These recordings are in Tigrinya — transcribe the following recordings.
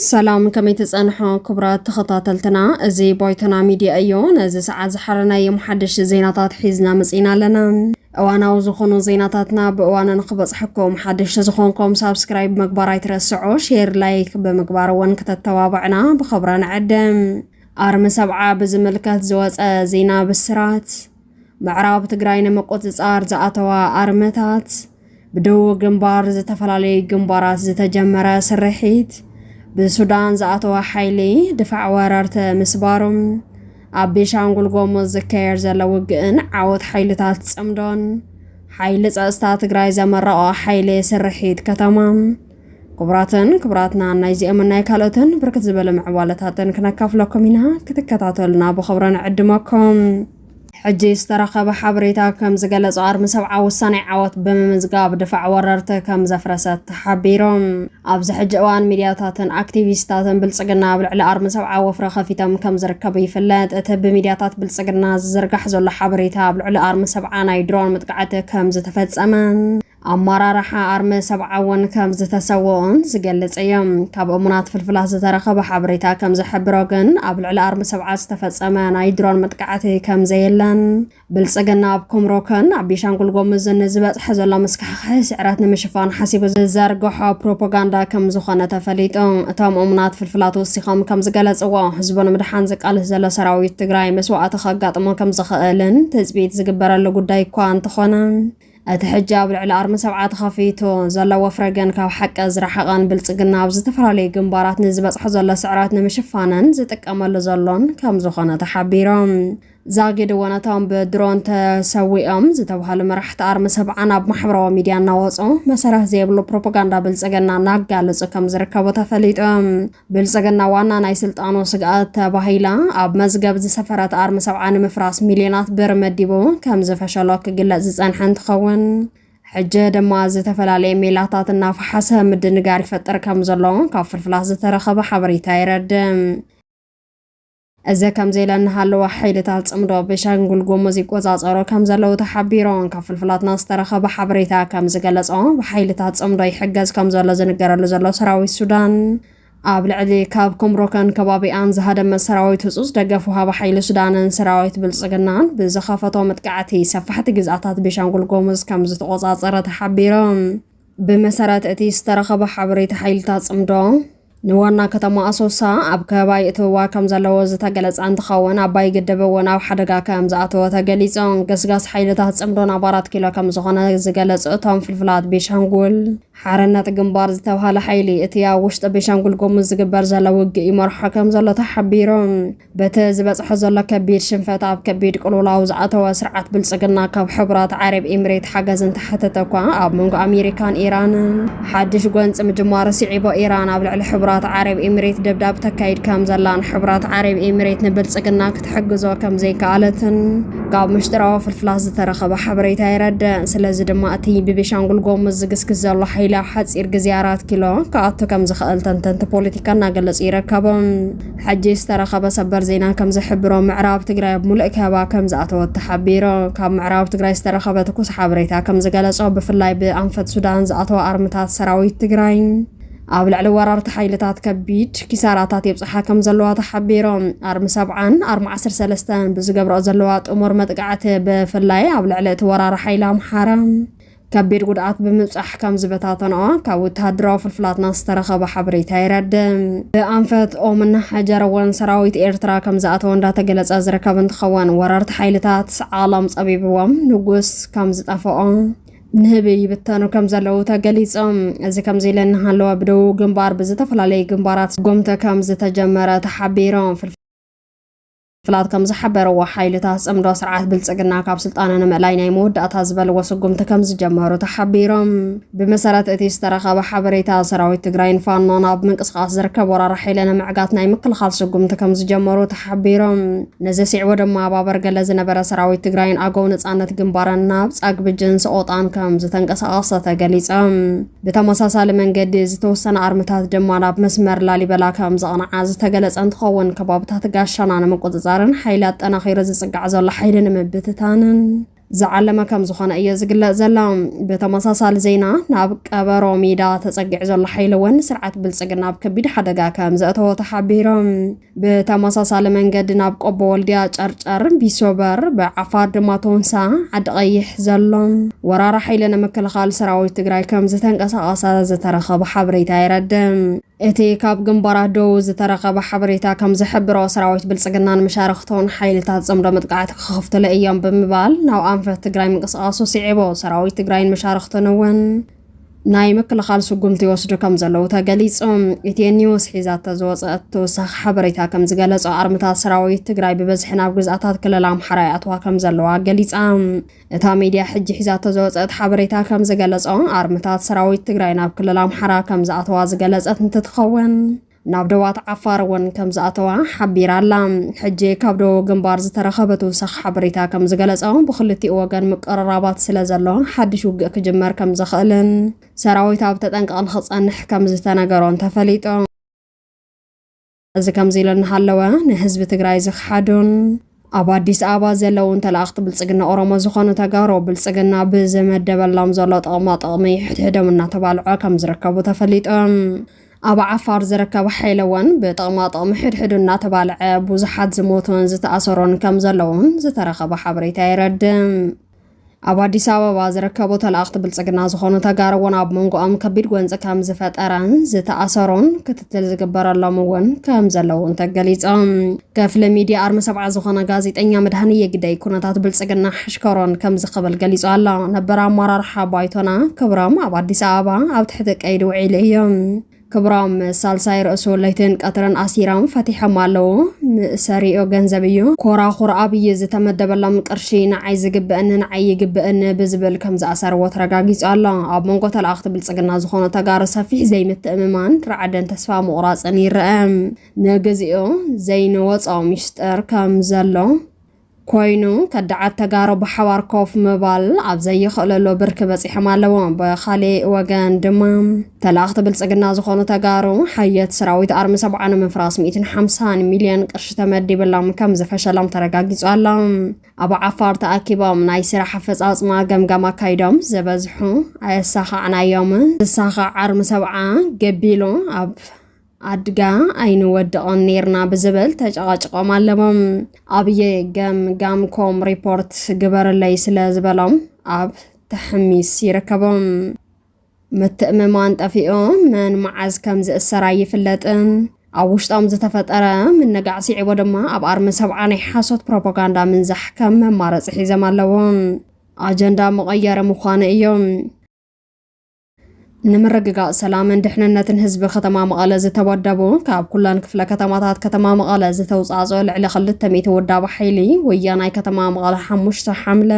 ሰላም ከመይ ትጸንሖ ክቡራት ተኸታተልትና፣ እዚ ባይቶና ሚድያ እዩ። ነዚ ሰዓት ዝሓረናዮም ሓደሽቲ ዜናታት ሒዝና መጺና ኣለና። እዋናዊ ዝኾኑ ዜናታትና ብእዋኑ ንክበፅሐኩም ሓድሽ ተዝኾንኩም ሳብስክራይብ ምግባር ኣይትረስዑ፣ ሼር ላይክ ብምግባር እውን ክተተባብዕና ብኸብራ ንዕድም። ኣርሚ ሰብዓ ብዝምልከት ዝወፀ ዜና ብስራት። ምዕራብ ትግራይ ንምቁፅፃር ዝኣተዋ ኣርምታት ብደቡብ ግንባር ዝተፈላለዩ ግንባራት ዝተጀመረ ስርሒት ብሱዳን ዝኣተወ ሓይሊ ድፋዕ ወረርቲ ምስባሩ፣ ኣብ ቤሻንጉል ጎሙዝ ዝካየድ ዘሎ ውግእን ዓወት ሓይልታት ጽምዶን፣ ሓይሊ ጸጥታ ትግራይ ዘመረቖ ሓይሊ ስርሒት ከተማ ክቡራትን ክቡራትናን ናይዚኦምን ናይ ካልኦትን ብርክት ዝበለ ምዕባለታትን ክነካፍለኩም ኢና ክትከታተሉና ብኽብሪ ንዕድመኩም ሕጂ ዝተረኸበ ሓበሬታ ከም ዝገለጾ ኣርሚ ሰብዓ ወሳናይ ዓወት ብምምዝጋብ ድፋዕ ወረርቲ ከም ዘፍረሰት ተሓቢሩ። ኣብዚ ሕጂ እዋን ሚድያታትን ኣክቲቪስታትን ብልጽግና ኣብ ልዕሊ ኣርሚ ሰብዓ ወፍሪ ከፊቶም ከም ዝርከቡ ይፍለጥ። እቲ ብሚድያታት ብልጽግና ዝዝርጋሕ ዘሎ ሓበሬታ ኣብ ልዕሊ ኣርሚ ሰብዓ ናይ ድሮን መጥቃዕቲ ከም ዝተፈጸመን፣ ኣመራርሓ ኣርሚ ሰብዓ እውን ከም ዝተሰወኡን ዝገልጽ እዩ። ካብ እሙናት ፍልፍላት ዝተረኸበ ሓበሬታ ከም ዝሕብሮ ግን ኣብ ልዕሊ ኣርሚ ሰብዓ ዝተፈጸመ ናይ ድሮን መጥቃዕቲ ከም ዘየለን ብልጽግና ኣብ ኩምሩክን ኣብ ቤሻንጉል ጎሙዝን ንዝበጽሐ ዘሎ ምስካሕካሒ ስዕረት ንምሽፋን ሓሲቡ ዝዘርግሖ ፕሮፓጋንዳ ከም ዝኾነ ተፈሊጡ። እቶም እሙናት ፍልፍላት ወሲኾም ከም ዝገለጽዎ ህዝቡ ንምድሓን ዝቃልስ ዘሎ ሰራዊት ትግራይ መስዋእቲ ከጋጥሞ ከም ዝኽእልን ትጽቢት ዝግበረሉ ጉዳይ እኳ እንተኾነ እቲ ሕጂ ኣብ ልዕሊ ኣርሚ ሰብዓ ተኸፊቱ ዘሎ ወፍረ ግን ካብ ሓቂ ዝረሓቐን ብልጽግና ኣብ ዝተፈላለዩ ግንባራት ንዝበጽሖ ዘሎ ስዕረት ንምሽፋንን ዝጥቀመሉ ዘሎን ከም ዝኾነ ተሓቢሮም። ዛጊድ እውን እቶም ብድሮን ተሰዊኦም ዝተባሃሉ መራሕቲ ኣርሚ ሰብዓን ኣብ ማሕበራዊ ሚድያ እናወጹ መሰረት ዘይብሉ ፕሮፓጋንዳ ብልጽግና እናጋለጹ ከም ዝርከቡ ተፈሊጡ። ብልፅግና ዋና ናይ ስልጣኑ ስግኣት ተባሂላ ኣብ መዝገብ ዝሰፈረት ኣርሚ ሰብዓ ንምፍራስ ሚልዮናት ብር መዲቡ ከም ዝፈሸሎ ክግለፅ ዝፀንሐ እንትኸውን ሕጂ ድማ ዝተፈላለየ ሜላታት እናፈሓሰ ምድንጋር ይፈጥር ከም ዘሎ ካብ ፍልፍላት ዝተረኸበ ሓበሬታ የረድእ። እዚ ከምዚ ኢለ እናሃለወ ሓይልታት ጽምዶ ቤሻንጉል ጉሙዝ ይቆጻጸሩ ከም ዘለዉ ተሓቢሩ። ካብ ፍልፍላትና ዝተረኸበ ሓበሬታ ከም ዝገለጾ ብሓይልታት ጽምዶ ይሕገዝ ከም ዘሎ ዝንገረሉ ዘሎ ሰራዊት ሱዳን ኣብ ልዕሊ ካብ ኩምሩከን ከባቢኣን ዝሃደመ ሰራዊት ህጹጽ ደገፍ ውሃቢ ሓይሊ ሱዳንን ሰራዊት ብልጽግናን ብዝኸፈቶ መጥቃዕቲ ሰፋሕቲ ግዝኣታት ቤሻንጉል ጎሙዝ ከም ዝተቖጻጸረ ተሓቢሩ። ብመሰረት እቲ ዝተረኸበ ሓበሬታ ሓይልታት ጽምዶ ንዋና ከተማ ኣሶሳ ኣብ ከባቢ የእትውዋ ከም ዘለዎ ዝተገለጸ እንትኸውን ኣባይ ግድብ እውን ኣብ ሓደጋ ከም ዝኣተወ ተገሊጹ። ገስጋስ ሓይልታት ጽምዶ ናብ ኣራት ኪሎ ከም ዝኾነ ዝገለጹ እቶም ፍልፍላት ቤሻንጉል ሓርነት ግንባር ዝተብሃለ ሓይሊ እቲ ኣብ ውሽጢ ቤሻንጉል ጉሙዝ ዝግበር ዘሎ ውግእ ይመርሖ ከም ዘሎ ተሓቢሩ። በቲ ዝበፅሖ ዘሎ ከቢድ ሽንፈት ኣብ ከቢድ ቅልውላው ዝኣተወ ስርዓት ብልፅግና ካብ ሕቡራት ዓረብ ኢምሬት ሓገዝ እንተሓተተ እኳ ኣብ መንጎ ኣሜሪካን ኢራንን ሓድሽ ጎንፂ ምጅማሩ ስዒቦ ኢራን ኣብ ልዕሊ ሕቡራት ዓረብ ኢምሬት ደብዳብ ተካይድ ከም ዘላን ሕቡራት ዓረብ ኢምሬት ንብልፅግና ክትሕግዞ ከም ዘይከኣለትን ካብ ምሽጥራዊ ፍልፍላት ዝተረኸበ ሓበሬታ የረድእ። ስለዚ ድማ እቲ ብቤሻንጉል ጎሙዝ ዝግስግስ ዘሎ ሓይሊ ኣብ ሓፂር ግዜ ኣራት ኪሎ ክኣቱ ከም ዝኽእል ተንተንቲ ፖለቲካ እናገለፁ ይርከቡ። ሕጂ ዝተረኸበ ሰበር ዜና ከም ዝሕብሮ ምዕራብ ትግራይ ኣብ ሙሉእ ከበባ ከም ዝኣተወት ተሓቢሩ። ካብ ምዕራብ ትግራይ ዝተረኸበ ትኩስ ሓበሬታ ከም ዝገለፆ ብፍላይ ብኣንፈት ሱዳን ዝኣተዋ ኣርምታት ሰራዊት ትግራይ ኣብ ልዕሊ ወራርቲ ሓይልታት ከቢድ ኪሳራታት የብፅሓ ከም ዘለዋ ተሓቢሩ። ኣርሚ ሰብዓን ኣርሚ ዓሰርተ ሰለስተን ብዝገብረኦ ዘለዋ ጥሙር መጥቃዕቲ ብፍላይ ኣብ ልዕሊ እቲ ወራሪ ሓይሊ ኣምሓራ ከቢድ ጉድኣት ብምብጻሕ ከም ዝበታተነኦ ካብ ወተሃደራዊ ፍልፍላትና ዝተረኸበ ሓበሬታ የረድእ። ብኣንፈት ኦምን ሐጀር እውን ሰራዊት ኤርትራ ከም ዝኣተወ እንዳተገለጸ ዝርከብ እንትኸውን ወረርቲ ሓይልታት ዓለም ጸቢብዎም ንጉስ ከም ዝጠፈኦ ንህቢ ይብተኑ ከም ዘለዉ ተገሊጾም። እዚ ከምዚ ኢለ እናሃለወ ብደቡብ ግንባር ብዝተፈላለዩ ግንባራት ጎምተ ከም ዝተጀመረ ተሓቢሮም። ፍላት ከም ዝሓበረዎ ሓይልታት ጽምዶ ስርዓት ብልጽግና ካብ ስልጣነ ንምእላይ ናይ መወዳእታ ዝበልዎ ስጉምቲ ከም ዝጀመሩ ተሓቢሮም። ብመሰረት እቲ ዝተረኸበ ሓበሬታ ሰራዊት ትግራይን ፋኖን ኣብ ምንቅስቓስ ዝርከብ ወራር ሓይሊ ንምዕጋት ናይ ምክልኻል ስጉምቲ ከም ዝጀመሩ ተሓቢሮም። ነዚ ስዒቡ ድማ ኣብ ኣበርገለ ዝነበረ ሰራዊት ትግራይን ኣገው ነጻነት ግንባርን ናብ ጻግብጅን ሰቖጣን ከም ዝተንቀሳቐሰ ተገሊጸም። ብተመሳሳሊ መንገዲ ዝተወሰነ ኣርምታት ድማ ናብ መስመር ላሊበላ ከም ዘቕንዓ ዝተገለጸ እንትኸውን ከባብታት ጋሻና ንምቁፅፃርን ሓይሊ ኣጠናኺሩ ዝፅጋዕ ዘሎ ሓይሊ ንምብትታንን ዝዓለመ ከም ዝኾነ እዮ ዝግለጽ ዘሎ። ብተመሳሳሊ ዜና ናብ ቀበሮ ሜዳ ተጸጊዑ ዘሎ ሓይሊ እውን ስርዓት ብልጽግና ኣብ ከቢድ ሓደጋ ከም ዘእተዎ ተሓቢሮም። ብተመሳሳሊ መንገዲ ናብ ቆቦ ወልድያ፣ ጨርጨር፣ ቢሶበር፣ ብዓፋር ድማ ቶንሳ፣ ዓዲ ቀይሕ ዘሎ ወራሪ ሓይሊ ንምክልኻል ሰራዊት ትግራይ ከም ዝተንቀሳቐሰ ዝተረኸበ ሓበሬታ የረድእ። እቲ ካብ ግንባራት ደቡብ ዝተረኸበ ሓበሬታ ከም ዝሕብሮ ሰራዊት ብልጽግናን መሻርኽቶን ሓይልታት ጽምዶ መጥቃዕቲ ክኸፍትሉ እዮም ብምባል ናብ ኣንፈት ትግራይ ምንቅስቓሱ ስዒቡ ሰራዊት ትግራይን መሻርኽቱን እውን ናይ ምክልኻል ስጉምቲ ይወስዱ ከም ዘለዉ ተገሊጹ። ኢትዮ ኒውስ ሒዛቶ ዝወጸአት ተወሳኺ ሓበሬታ ከም ዝገለጾ ኣርምታት ሰራዊት ትግራይ ብበዝሒ ናብ ግዝኣታት ክልል ኣምሓራ ይኣትዋ ከም ዘለዋ ገሊጻ። እታ ሚድያ ሕጂ ሒዛቶ ዝወጸአት ሓበሬታ ከም ዝገለጾ ኣርምታት ሰራዊት ትግራይ ናብ ክልል ኣምሓራ ከም ዝኣተዋ ዝገለጸት እንትትኸውን ናብ ደባት ዓፋር እውን ከም ዝኣተዋ ሓቢራ ኣላ። ሕጂ ካብ ደቡብ ግንባር ዝተረኸበ ትውሰኽ ሓበሬታ ከም ዝገለጾ ብክልቲኡ ወገን ምቅርራባት ስለ ዘሎ ሓድሽ ውግእ ክጅመር ከም ዝኽእልን ሰራዊት ኣብ ተጠንቀቕ ንኽጸንሕ ከም ዝተነገሮን ተፈሊጡ። እዚ ከምዚ ኢሉ እናሃለወ ንህዝቢ ትግራይ ዝኽሓዱን ኣብ ኣዲስ ኣበባ ዘለውን ተላእኽቲ ብልፅግና ኦሮሞ ዝኾኑ ተጋሩ ብልፅግና ብዝመደበሎም ዘሎ ጥቕማ ጥቕሚ ሕድሕዶም እናተባልዑ ከም ዝርከቡ ተፈሊጡ። ኣብ ዓፋር ዝርከብ ሓይሊ እውን ብጥቕማ ጥቕሚ ሕድሕዱ እናተባልዐ ብዙሓት ዝሞቱን ዝተኣሰሩን ከም ዘለውን ዝተረኸበ ሓበሬታ የረድእ። ኣብ ኣዲስ ኣበባ ዝርከቡ ተላእኽቲ ብልፅግና ዝኾኑ ተጋሩ እውን ኣብ መንጎኦም ከቢድ ጎንፂ ከም ዝፈጠረን ዝተኣሰሩን ክትትል ዝግበረሎም እውን ከም ዘለውን ተገሊፆም። ክፍሊ ሚዲያ ኣርሚ ሰብዓ ዝኾነ ጋዜጠኛ መድሃኒ የግደይ ኩነታት ብልፅግና ሕሽከሮን ከም ዝኸበል ገሊፁ ኣሎ። ነበር ኣመራርሓ ባይቶና ክብሮም ኣብ ኣዲስ ኣበባ ኣብ ትሕቲ ቀይዲ ውዒሉ እዩ። ክብሮም ሳልሳይ ርእሱ ለይትን ቀትርን ኣሲሮም ፈቲሖም ኣለዉ። ምእሰሪኦ ገንዘብ እዩ። ኮራኹር ኣብይ ዝተመደበሎም ቅርሺ ንዓይ ዝግበእኒ ንዓይ ይግበእኒ ብዝብል ከምዝኣሰርዎ ተረጋጊጹ ኣሎ። ኣብ መንጎ ተለኣኽቲ ብልጽግና ዝኾኑ ተጋሩ ሰፊሕ ዘይምትእምማን፣ ራዕድን ተስፋ ምቑራጽን ይረኣ። ንግዚኡ ዘይንወጾ ሚሽጥር ከምዘሎ ኮይኑ ከዳዓት ተጋሩ ብሓባር ኮፍ ምባል ኣብ ዘይኽእለሉ ብርኪ በፂሖም ኣለዉ። ብኻሊእ ወገን ድማ ተላኣኽቲ ብልፅግና ዝኾኑ ተጋሩ ሓየት ሰራዊት ኣርሚ ሰብዓ ንምፍራስ ሚእትን ሓምሳን ሚልዮን ቅርሺ ተመዲብሎም ከምዝፈሸሎም ተረጋጊፁ ኣሎ። ኣብ ዓፋር ተኣኪቦም ናይ ስራሕ ኣፈፃፅማ ገምጋም ኣካይዶም ዝበዝሑ ኣየሳኻዕናዮምን። ዝሳኻዕ ኣርሚ ሰብዓ ገቢሉ ኣብ ኣድጋ ኣይንወድቕን ኔርና ብዝብል ተጨቓጭቖም ኣለሞም ኣብየ ገምጋምኮም ሪፖርት ግበርለይ ስለ ዝበሎም ኣብ ተሕሚስ ይርከቦም። ምትእምማን ጠፊኡ መን መዓዝ ከም ዝእሰር ኣይፍለጥን። ኣብ ውሽጦም ዝተፈጠረ ምንጋዕ ስዒቦ ድማ ኣብ ኣርሚ ሰብዓ ናይ ሓሶት ፕሮፓጋንዳ ምንዛሕ ከም መማረፂ ሒዘም ኣለዎም። ኣጀንዳ መቐየሪ ምዃኑ እዮም። ንምርግጋፅ ሰላምን ድሕንነትን ህዝቢ ከተማ መቐለ ዝተወደቡ ካብ ኩለን ክፍለ ከተማታት ከተማ መቐለ ዝተውፃእፀኦ ልዕሊ ክልተ ሚእቲ ውዳብ ሓይሊ ወያናይ ከተማ መቐለ ሓሙሽተ ሓምለ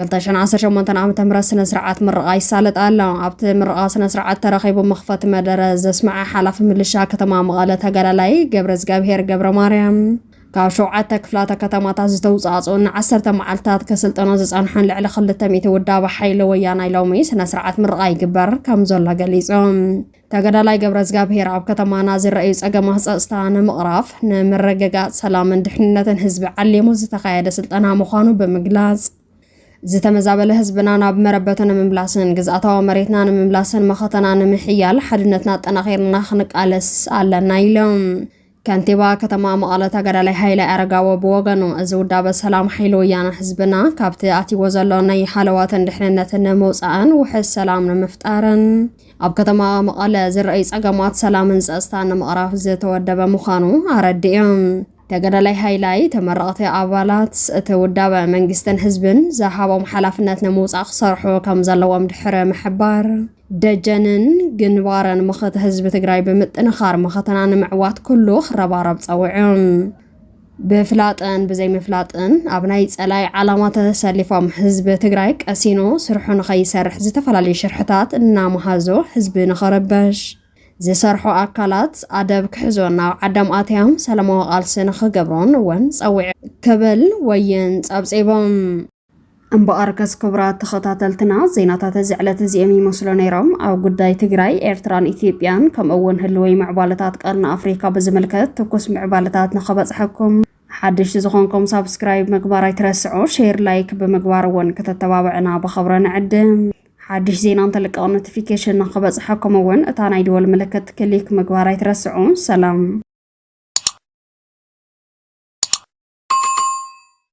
2018 ዓ ም ስነ ስርዓት ምርቓ ይሳለጥ ኣሎ ኣብቲ ምርቓ ስነ ስርዓት ተረኺቡ መኽፈቲ መደረ ዘስምዐ ሓላፊ ምልሻ ከተማ መቐለ ተጋዳላይ ገብረ እግዚኣብሄር ገብረ ማርያም ካብ ሸውዓተ ክፍላተ ከተማታት ዝተውፃእፅኡን ንዓሰርተ መዓልትታት ከስልጠኖ ዝፀንሐን ልዕሊ ክልተ ሚእቲ ውዳበ ሓይሊ ወያናይ ሎሚ ስነ ስርዓት ምርቓ ይግበር ከም ዘሎ ገሊፆም። ተጋዳላይ ገብረዝጋብሄር ኣብ ከተማና ዝረኣዩ ፀገማት ፀፅታ ንምቕራፍ ንምርግጋፅ ሰላምን ድሕንነትን ህዝቢ ዓሊሙ ዝተኻየደ ስልጠና ምዃኑ ብምግላፅ ዝተመዛበለ ህዝብና ናብ መረበቱ ንምምላስን ግዝኣታዊ መሬትና ንምምላስን መኸተና ንምሕያል ሓድነትና ኣጠናኺርና ክንቃለስ ኣለና ኢሎም። ከንቲባ ከተማ መቐለ ተጋዳላይ ሃይለ ኣረጋዊ ብወገኑ፣ እዚ ውዳበ ሰላም ሓይሊ ወያነ ህዝብና ካብቲ ኣትይዎ ዘሎ ናይ ሃለዋትን ድሕንነትን ንምውፃእን ውሕስ ሰላም ንምፍጣርን ኣብ ከተማ መቐለ ዝረኣዩ ፀገማት ሰላምን ፀፅታን ንምቕራፍ ዝተወደበ ምዃኑ ኣረዲኦም። ተጋዳላይ ሃይላይ ተመረቕቲ ኣባላት እቲ ውዳበ መንግስትን ህዝብን ዝሃቦም ሓላፍነት ንምውፃእ ክሰርሑ ከምዘለዎም ድሕሪ ምሕባር፣ ደጀንን ግንባርን መኸተ ህዝቢ ትግራይ ብምጥንኻር መኸተና ንምዕዋት ኩሉ ክረባረብ ጸዊዑ። ብፍላጥን ብዘይምፍላጥን ኣብ ናይ ጸላይ ዓላማ ተሰሊፎም ህዝቢ ትግራይ ቀሲኑ ስርሑ ንኸይሰርሕ ዝተፈላለዩ ሽርሕታት እናመሃዞ ህዝቢ ንኸረበሽ ዝሰርሑ ኣካላት ኣደብ ክሕዞ ናብ ዓዶም ኣትያም ሰላማዊ ቃልሲ ንኽገብሮን እውን ጸዊዑ ክብል ወይን ጸብጺቦም። እምበኣርከስ ክቡራት ተኸታተልትና ዜናታት እዚ ዕለት እዚኦም ይመስሉ ነይሮም። ኣብ ጉዳይ ትግራይ፣ ኤርትራን ኢትዮጵያን ከምኡ እውን ህልወይ ምዕባለታት ቀርኒ ኣፍሪካ ብዝምልከት ትኩስ ምዕባለታት ንኸበፅሐኩም ሓድሽ ዝኾንኩም ሳብስክራይብ ምግባር ኣይትረስዑ፣ ሼር ላይክ ብምግባር እውን ከተተባብዕና ብኸብረ ንዕድም። ሓድሽ ዜና እንተልቀቕ ኖቲፊኬሽን ንክበፅሐኩም እውን እታ ናይ ደወል ምልክት ክሊክ ምግባር ኣይትረስዑ። ሰላም